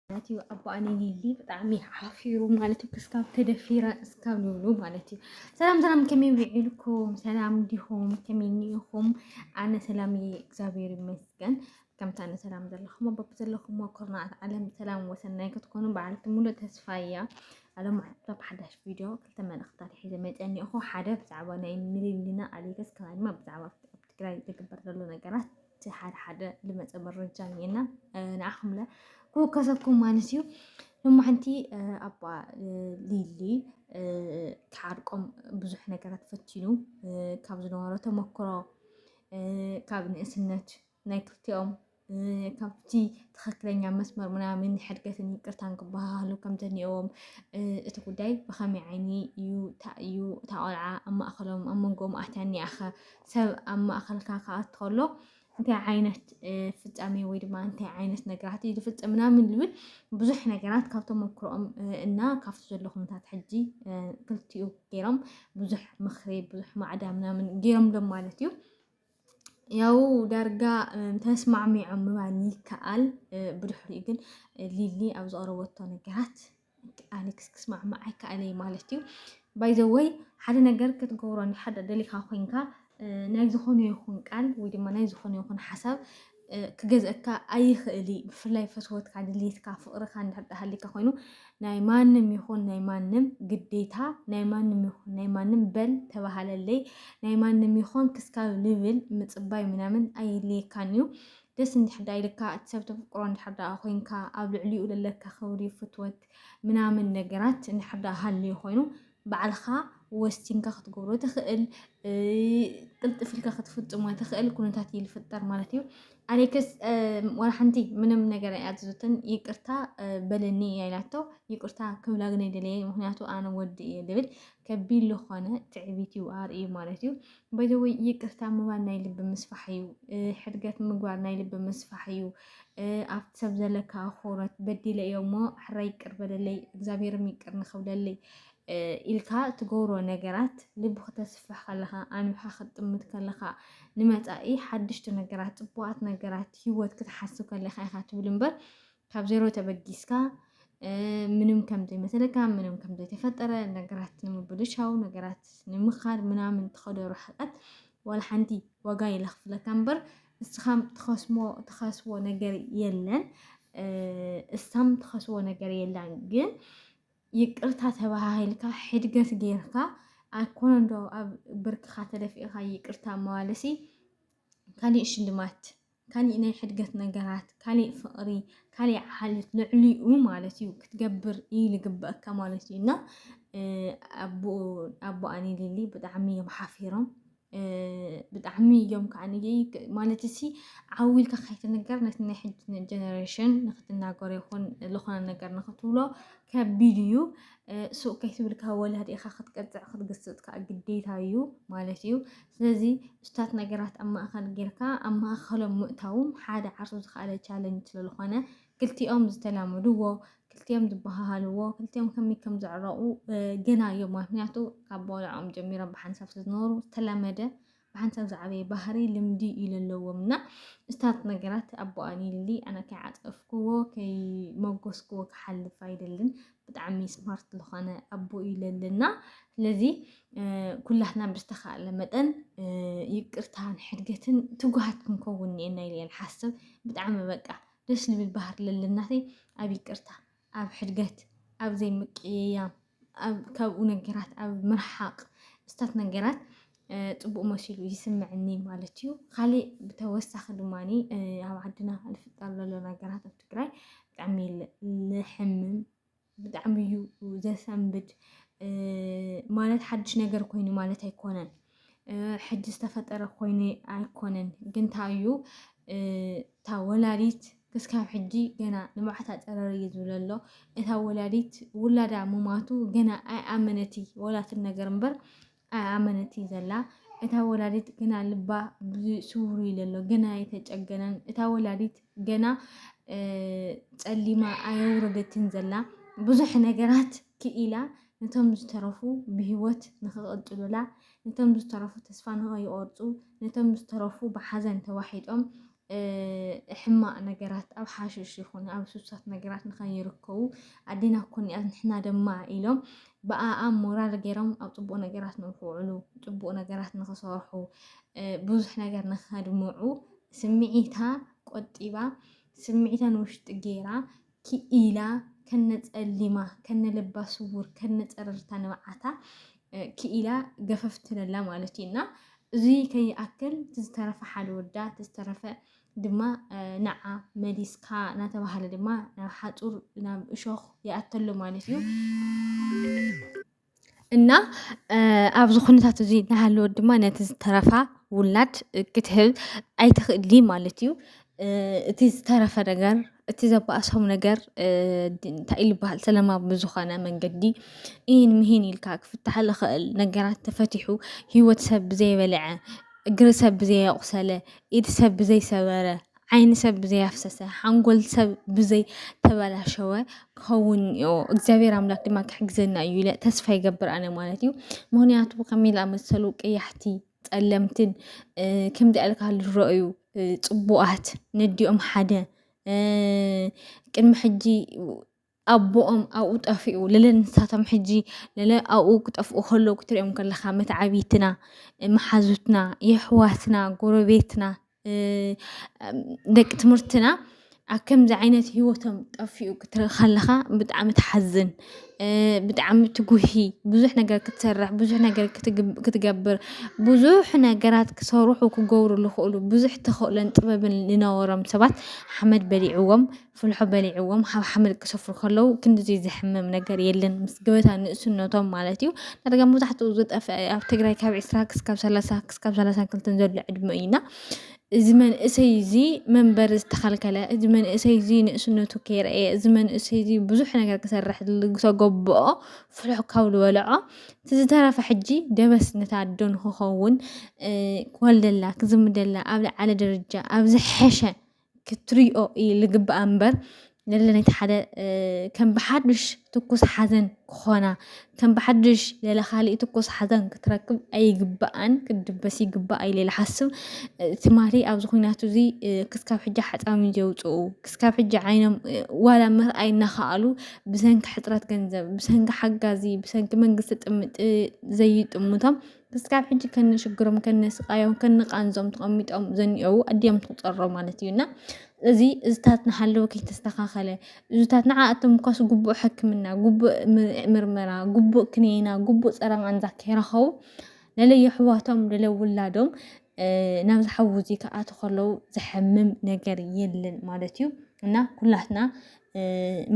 ማለት እዩ ኣቦኣ ንሊሊ ብጣዕሚ ሓፊሩ ማለት እዩ ክስካብ ተደፊረ እስካብ ንብሉ ማለት እዩ ሰላም ሰላም ከመይ ውዒልኩም ሰላም ዲኹም ከመይ ኒኢኹም ኣነ ሰላም እየ እግዚኣብሔር ይመስገን ከምታ ኣነ ሰላም ዘለኹም ኣቦብ ዘለኹም ኮርናት ዓለም ሰላም ወሰናይ ክትኮኑ በዓልቲ ሙሉእ ተስፋ እያ ኣሎም ኣብ ሓዳሽ ቪድዮ ክልተ መልእኽታት ሒዘ መፀኒኹ ሓደ ብዛዕባ ናይ ንሊሊና ኣሌክስ ካልኣይ ድማ ብዛዕባ ትግራይ ዝግበር ዘሎ ነገራት እቲ ሓደ ሓደ ልመፀ መረጃ እኒኤና ንዓኹምለ ክውከሰኩም ማለት እዩ እሞ ሓንቲ ኣባ ሊሊ ክሓርቆም ብዙሕ ነገራት ፈቲኑ ካብ ዝነበሮ ተመክሮ ካብ ንእስነት ናይ ክልቲኦም ካብቲ ትክክለኛ መስመር ምናምን ሕድገትን ይቅርታን ክበሃሃሉ ከም ዘኒኦዎም እቲ ጉዳይ ብከመይ ዓይኒ እዩ እዩ እታ ቆልዓ ኣብ ማእኸሎም ኣብ መንጎኦም ኣትያ እኒኣኸ ሰብ ኣብ ማእኸልካ ክኣት ከሎ እንታይ ዓይነት ፍፃሜ ወይ ድማ እንታይ ዓይነት ነገራት እዩ ዝፍፅም ምናምን ዝብል ብዙሕ ነገራት ካብ ተመክሮኦም እና ካብቲ ዘሎ ኩነታት ሕጂ ክልቲኡ ገይሮም ብዙሕ ምክሪ ብዙሕ ማዕዳ ምናምን ገይሮም ሎም ማለት እዩ ያው ዳርጋ ተስማዕሚዖም ምባል ይከኣል። ብድሕሪኡ ግን ሊሊ ኣብ ዝቐረበቶ ነገራት ኣሌክስ ክስማዕማዕ ኣይከኣለ እዩ ማለት እዩ። ባይዘወይ ሓደ ነገር ክትገብሮ ሓደ ደሊኻ ኮንካ ናይ ዝኾነ ይኹን ቃል ወይ ድማ ናይ ዝኾነ ይኹን ሓሳብ ክገዝእካ ኣይኽእል እዩ ብፍላይ ፈትወትካ ድልየትካ ፍቅርካ እንድሕር ዳሃሊካ ኮይኑ ናይ ማንም ይኹን ናይ ማንም ግዴታ ናይ ማንም ይኹን ናይ ማንም በል ተባሃለለይ ናይ ማንም ይኹን ክስካብ ልብል ምፅባይ ምናምን ኣይልየካን እዩ ደስ እንድሕር ዳ ኢልካ እቲ ሰብ ተፍቅሮ እንድሕር ዳ ኮይንካ ኣብ ልዕሊኡ ለለካ ክብሪ ፍትወት ምናምን ነገራት እንድሕር ዳ ሃልዩ ኮይኑ ባዕልኻ ወሲንካ ክትገብሮ ትኽእል ቅልጥፍ ኢልካ ክትፍፅሞ ትኽእል ኩነታት እዩ ዝፍጠር ማለት እዩ ኣሌክስ ዋላ ሓንቲ ምንም ነገር ኣይኣዘዘትን ይቅርታ በለኒ እያ ኢላቶ ይቅርታ ክብላ ግን ኣይደለየ ምክንያቱ ኣነ ወዲ እየ ዝብል ከቢድ ዝኾነ ትዕቢት እዩ ኣርእዩ ማለት እዩ በይዘወይ ይቅርታ ምባል ናይ ልቢ ምስፋሕ እዩ። ሕድገት ምግባር ናይ ልቢ ምስፋሕ እዩ። ኣብቲ ሰብ ዘለካ ኣኽብሮት በዲለ እዮ እሞ ሕራ ይቅር በለለይ እግዚኣብሔርም ይቅር ንክብለለይ ኢልካ ትገብሮ ነገራት ልቢ ክተስፍሕ ከለኻ ኣንብሓ ክትጥምት ከለኻ ንመፃኢ ሓድሽቲ ነገራት ፅቡቃት ነገራት ሂወት ክትሓስብ ከለካ ኢኻ ትብል እምበር ካብ ዜሮ ተበጊስካ ምንም ከምዘይመሰለካ ምንም ከምዘይተፈጠረ ነገራት ንምብልሻው ነገራት ንምኻድ ምናምን ትኸዶ ርሕቀት ዋላ ሓንቲ ዋጋ የለኽፍለካ እምበር እስኻም ትኸስሞ ትኸስቦ ነገር የለን እሳም ትኸስቦ ነገር የለን ግን ይቅርታ ተባሃሂልካ ሕድገት ጌርካ ኣይኮነ እንዶ ኣብ ብርክኻ ተደፊእኻ ይቅርታ መባልሲ ካሊእ ሽልማት ካሊእ ናይ ሕድገት ነገራት፣ ካሊእ ፍቕሪ፣ ካሊእ ዓሌት ልዕሊኡ ማለት እዩ ክትገብር እዩ ልግበእካ ማለት እዩ እና ኣቦኣኒ ሊሊ ብጣዕሚ እዮም ሓፊሮም ብጣዕሚ እዮም ከዓ ማለት እሲ ዓው ኢልካ ከይትንገር ነቲ ናይ ሕጂ ጀነሬሽን ንክትናገሮ ይኹን ዝኾነ ነገር ንክትብሎ ከቢድ እዩ ሱቅ ከይትብልካ ወላዲእኻ ክትቀፅዕ ክትግስፅ ከዓ ግዴታ እዩ ማለት እዩ ስለዚ እሱታት ነገራት ኣብ ማእኸል ጌርካ ኣብ ማእኸሎም ምእታዉ ሓደ ዓርሱ ዝኸኣለ ቻለንጅ ስለልኾነ ክልቲኦም ዝተላመድዎ ክልቲኦም ዝበሃሃልዎ ክልቲኦም ከመይ ከም ዘዕረቑ ገና እዮም ምክንያቱ ካብ ቦልዕኦም ጀሚሮም ብሓንሳብ ስለዝነበሩ ዝተላመደ ብሓንሳብ ዝዓበየ ባህሪ ልምዲ እዩ ዘለዎም እና እሱታት ነገራት ኣቦኣ ኒሊ ኣነ ከይዓፀፍክዎ ከይመጎስክዎ ክሓልፍ ኣይደልን ብጣዕሚ ስማርት ዝኾነ ኣቦ እዩ ለለና ስለዚ ኩላትና ብዝተኻእለ መጠን ይቅርታን ሕድገትን ትጉሃት ክንከውን እኒኤና ኢለ ሓስብ ብጣዕሚ በቃ ደስ ልብል ባህር ለለናተይ ኣብ ይቅርታ ኣብ ሕድገት ኣብ ዘይምቅይያም ካብኡ ነገራት ኣብ ምርሓቅ ምስታት ነገራት ፅቡቅ መሲሉ ይስምዕኒ ማለት እዩ። ካሊእ ብተወሳኺ ድማ ኣብ ዓድና ንፍጠር ዘሎ ነገራት ኣብ ትግራይ ብጣዕሚ ልሕምም ብጣዕሚ እዩ ዘሰንብድ። ማለት ሓድሽ ነገር ኮይኑ ማለት ኣይኮነን፣ ሕጂ ዝተፈጠረ ኮይኑ ኣይኮነን። ግን እንታይ እዩ እታ ወላዲት ክስካብ ሕጂ ገና ንብዓት ኣፀረር እዩ ዝብል ኣሎ። እታ ወላዲት ውላዳ ምማቱ ገና ኣይኣመነቲ ወላትን ነገር እምበር ኣይኣመነት እዩ ዘላ እታ ወላዲት ግና ልባ ስውሩ እዩ ዘሎ ገና ኣይተጨገነን እታ ወላዲት ገና ጸሊማ ኣየውረደትን ዘላ ብዙሕ ነገራት ክኢላ ነቶም ዝተረፉ ብሂወት ንክቕጥሉላ ነቶም ዝተረፉ ተስፋ ንኸይቆርፁ ነቶም ዝተረፉ ብሓዘን ተዋሒጦም ሕማቅ ነገራት ኣብ ሓሽሽ ይኹን ኣብ ሱሳት ነገራት ንኸይርከቡ ኣዴና ኮኒኣት ንሕና ደማ ኢሎም ብኣኣ ሞራል ገይሮም ኣብ ፅቡቅ ነገራት ንክውዕሉ ፅቡቅ ነገራት ንክሰርሑ ብዙሕ ነገር ንከድምዑ ስምዒታ ቆጢባ ስምዒታ ንውሽጢ ገይራ ክኢላ ከነ ጸሊማ ከነ ልባ ስውር ከነ ጸረርታ ንብዓታ ክኢላ ገፈፍ ትለላ ማለት እዩ እና እዚ ከይኣክል ትዝተረፈ ሓደ ወዳ ትዝተረፈ ድማ ንዓ መሊስካ እናተባህለ ድማ ናብ ሓፁር ናብ እሾኽ ይኣተሉ ማለት እዩ። እና ኣብዚ ኩነታት እዚ እናሃለወት ድማ ነቲ ዝተረፋ ውላድ ክትህብ ኣይትኽእሊ ማለት እዩ። እቲ ዝተረፈ ነገር እቲ ዘባእሶም ነገር እንታይ እዩ ዝበሃል ሰለማዊ ብዝኾነ መንገዲ ኢሂን ምሂን ኢልካ ክፍታሕ ዝኽእል ነገራት ተፈቲሑ ሂወት ሰብ ብዘይበልዐ እግሪ ሰብ ብዘየቁሰለ ኢድ ሰብ ብዘይሰበረ ዓይኒ ሰብ ብዘይ ኣፍሰሰ ሓንጎል ሰብ ብዘይ ተበላሸወ ክኸውን እዮ እግዚኣብሔር ኣምላክ ድማ ክሕግዘና እዩ ኢለ ተስፋ ይገብር ኣነ ማለት እዩ ምክንያቱ ከመይ ዝኣመሰሉ ቀያሕቲ ጸለምትን ከምዚ ኣልካ ዝረአዩ ፅቡቃት ነዲኦም ሓደ ቅድሚ ሕጂ ኣቦኦም ኣብኡ ጠፊኡ ለለ ንሳቶም ሕጂ ለለ ኣብኡ ክጠፍኡ ከለዉ ክትሪኦም ከለኻ መትዓቢትና መሓዙትና የሕዋትና ጎረቤትና ደቂ ትምህርትና ኣብ ከምዚ ዓይነት ሂወቶም ጠፊኡ ክትርኢ ከለኻ ብጣዕሚ ትሓዝን ብጣዕሚ ትጉሂ ብዙሕ ነገር ክትሰርሕ ብዙሕ ነገር ክትገብር ብዙሕ ነገራት ክሰርሑ ክገብሩ ዝኽእሉ ብዙሕ ተኽእሎን ጥበብን ዝነበሮም ሰባት ሓመድ በሊዕዎም። ፍልሖ በሊዕዎም ሃብ ሓመድ ክሰፍሩ ከለዉ ክንድዚ ዘሕምም ነገር የለን ምስ ገበታ ንእስነቶም ማለት እዩ ዳርጋ መብዛሕትኡ ዝጠፍአ ኣብ ትግራይ ካብ ዕስራ ክስካብ ሰላሳ ክስካብ ሰላሳን ክልተን ዘሎ ዕድመ እዩና እዚ መንእሰይ እዚ መንበሪ ዝተኸልከለ እዚ መንእሰይ እዚ ንእስነቱ ከይረአየ እዚ መንእሰይ እዚ ብዙሕ ነገር ክሰርሕ ዝተገበኦ ፍሉሕ ካብ ዝበልዖ እቲ ዝተረፈ ሕጂ ደበስ ነታ ኣዶ ንክኸውን ክወልደላ ክዝምደላ ኣብ ልዓለ ደረጃ ኣብ ዝሐሸ ክትሪኦ እዩ ልግባኣ እምበር ለለነቲ ሓደ ከም ብሓዱሽ ትኩስ ሓዘን ክኾና ከም ብሓዱሽ ለለ ካሊእ ትኩስ ሓዘን ክትረክብ ኣይግባኣን ክትድበስ ይግባኣ ኢለ ልሓስብ ትማሊ ኣብዚ ኩናት እዚ ክስካብ ሕጂ ሓፃዊ ዘውፅኡ ክስካብ ሕጂ ዓይኖም ዋላ ምርኣይ እናኸኣሉ ብሰንኪ ሕፅረት ገንዘብ ብሰንኪ ሓጋዚ ብሰንኪ መንግስቲ ዘይጥምቶም ክስካብ ሕጂ ከነ ሽግሮም ከነ ስቃዮም ከነ ቃንዞም ተቐሚጦም ዘኒኦዉ ኣዲኦም ትቑፀሮ ማለት እዩ እና እዚ እዝታት ንሃለወ ከይተስተኻኸለ እዙታት ንዓኣቶም እኳስ ግቡእ ሕክምና ግቡእ ምርመራ ግቡእ ክኒና ግቡእ ፀረ ቃንዛ ከይረኸቡ ለለ የሕዋቶም ለለ ውላዶም ናብዚ ሓዊ እዚ ክኣቱ ከለው ዘሐምም ነገር የለን ማለት እዩ እና ኩላትና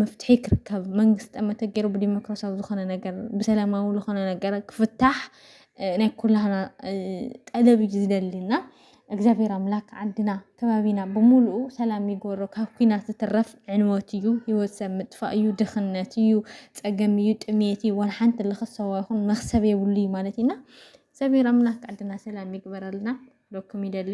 መፍትሒ ክርከብ መንግስቲ ጠመተ ገይሩ ብዲሞክራሲያዊ ዝኾነ ነገር ብሰላማዊ ዝኾነ ነገር ክፍታሕ ናይ ኩላህና ጠለብ እዩ ዝደሊና እግዚኣብሔር ኣምላክ ዓድና ከባቢና ብሙሉኡ ሰላም ይግበሮ ካብ ኩናት ዝትረፍ ዕንወት እዩ ሂወት ሰብ ምጥፋእ እዩ ድኽነት እዩ ፀገም እዩ ጥምየት እዩ ዋላ ሓንቲ ልኽሰዋ ይኹን መኽሰብ የብሉ እዩ ማለት እዩ እና እግዚኣብሔር ኣምላክ ዓድና ሰላም ይግበረልና ክብለኩም ይደሊ።